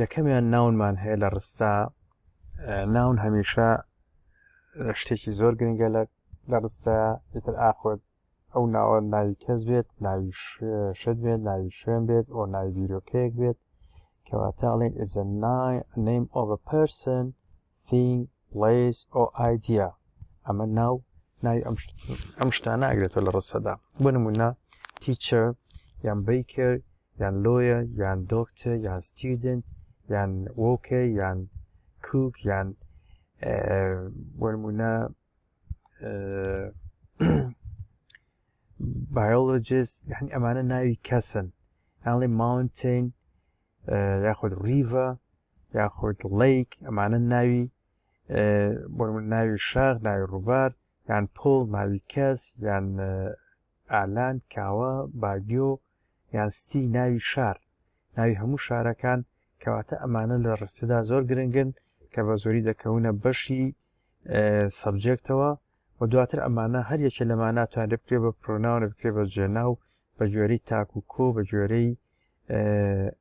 یەکەمیان ناونمان هەیە لە ڕستا ناون هەمیشە شتێکی زۆر گرنگە لە لە ڕستە ئیتر ئاخۆت ئەو ناوە ناوی کەس بێت ناوی شت بێت ناوی شوێن بێت ئەو ناوی بیرۆکەیەک بێت کەواتە ئەڵێن ئزە نایم ئۆڤ پرسن ثینگ Place or idea ئەمە ناو ناوی ئەم ئەم شتانە ئەگرێتەوە لە ڕستەدا بۆ نمونە teacher یان baker یان lawyer یان doctor یان student یان worker یان cook یان بۆ نمونە biologist یعنی ئەمانە ناوی کەسن یانڵێ mountain یاخود ریڤە یاخود ڵەیک ئەمانە ناوی بۆ من ناوی شاخ ناوی ڕووبار یان پۆڵ ناوی کەس یان ئالان کاوە باگیۆ یان ستی ناوی شار ناوی هەموو شارەکان کەواتە ئەمانە لە ڕستەدا زۆر گرنگن کە بە زۆری دەکەونە بەشی سەبجێکتەوە و دواتر ئەمانە هەر یەکێ لەمان ناتوان بکرێ بە پرۆناوە بکرێ بە جێنا و بە گوێرەی تاک و کۆ بە گوێرەی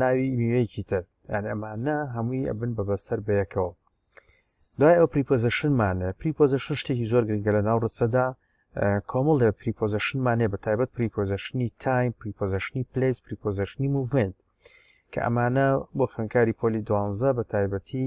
ناوی میوەیەکی تر یان ئەمانە هەمووی ئەبن بە بەسەر بەیەکەوە دوای ئەو پریپۆزیشنمانە پریپۆزیشن شتێکی زۆر گرنگە لە ناو ڕستەدا کۆمەڵ لە پریپۆزیشنمانێ بە تایبەت پریپۆزیشنی تایم پریپۆزیشنی پلیس پریپۆزیشنی موڤمنت کە ئەمانە بۆ خوێنکاری پۆلی دوانزە بە تایبەتی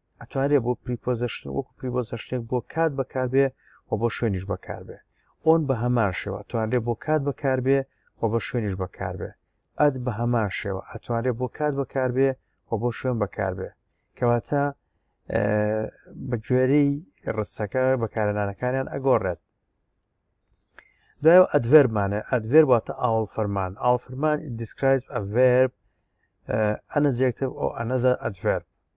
ئەتوانرێ بۆ پریپۆزشن وەکو پریبۆزشتێک بۆ کات بەکاربێ و بۆ شوێنیش بەکاربێ ئۆن بە هەمان شێوە توانرێ بۆ کات بەکاربێ و بە شوێنیش بەکاربێ ئەد بە هەمان شێوە ئەتوانرێ بۆ کات بەکاربێ و بۆ شوێن بەکاربێ کەواتە بە گوێرەی ڕستەکە بەکارەنانەکانیان ئەگۆڕێت دوای ئەدڤێرمانە ئەدڤێر واتە ئاڵ فەرمان ئاڵ فەرمان دیسکرایز ئەڤێر ئەنەجێکتب ئەو ئەنەزە ئەدڤێر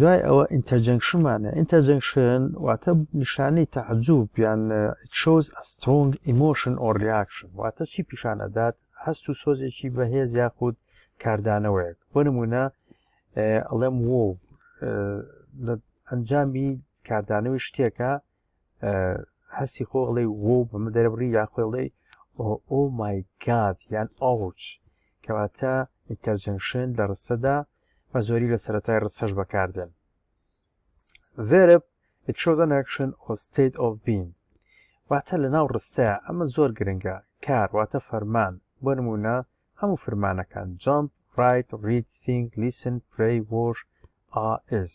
دوای ئەوە ئینتەرجەنگشمانە ئینتەرجەنگشن واتە نیشانەی تەعجوب یان شۆز ئەسترۆنگ ئیمۆشن ئۆ ریاکشن واتە چی پیشان ئەدات هەست و سۆزێکی بەهێز یاخود کاردانەوەیەک بۆ نمونە ئەڵێم وۆ ئەنجامی کاردانەوەی شتێکە هەستی خۆ ئەڵێ وۆ بەمە دەرەبڕی یا خۆی ئەڵێ ئۆ مای گاد یان ئاوچ کەواتە ئینتەرجەنشن لە ڕستەدا بە زۆری لە سەرەتای ڕستەش بەکاردێن verb it shows an action or state of being واتە لە ناو ڕستەیە ئەمە زۆر گرنگە کار واتە فەرمان بۆ نمونە هەموو فرمانەکان jump write read think listen pray wash a is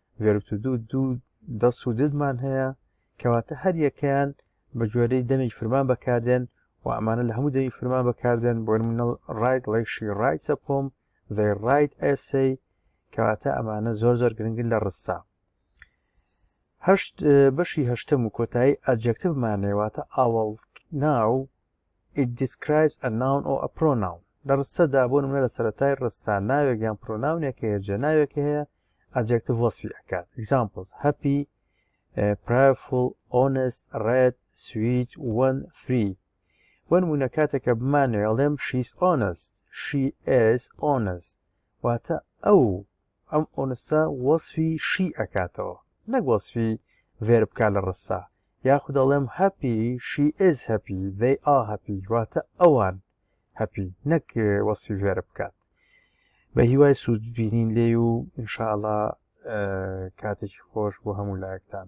گەروتو دوو دوو دەس و ددمان هەیە کەواتە هەر یەکەیان بە جۆرەی دەمی فرمان بەکاردێن و ئەمانە لە هەموو دەمی فرمان بەکاردێن بۆ منەڵ ڕایت ڵێشی ڕایتە پۆم ذی ڕایت ئەسی کەواتە ئەمانە زۆر زۆر گرنگن لە ڕستا هەشت بەشی هەشتم و کۆتایی ئەجەکتمانەوەتە ئاوڵ ناو it describes a noun or a pronoun لە ڕستەدا بۆ منە لە سەتای ڕستا ناوێک یان پرۆناونێک هەیە جە ناوێک هەیە ئەدجێکتڤ وەسفی ئەکات ئیگزامپڵز هەپی پرایفڵ ئۆنست ڕێد سویت وەن فری بۆ نمونە کاتێکە بمانەوێ ئەڵێم شیس ئۆنست شی ئێس ئۆنست واتە ئەو ئەم ئۆنسە وەسفی شی ئەکاتەوە نەک وەسفی ڤێر بکە لە ڕستا یاخود ئەڵێم هەپی شی ئێز هەپی دەی ئا هەپی واتە ئەوان هەپی نەک وەسفی ڤێر بکات بە هیوای سوود بینین لێ و انشاءله کاتێکی خۆش بۆ هەموو لایەکتان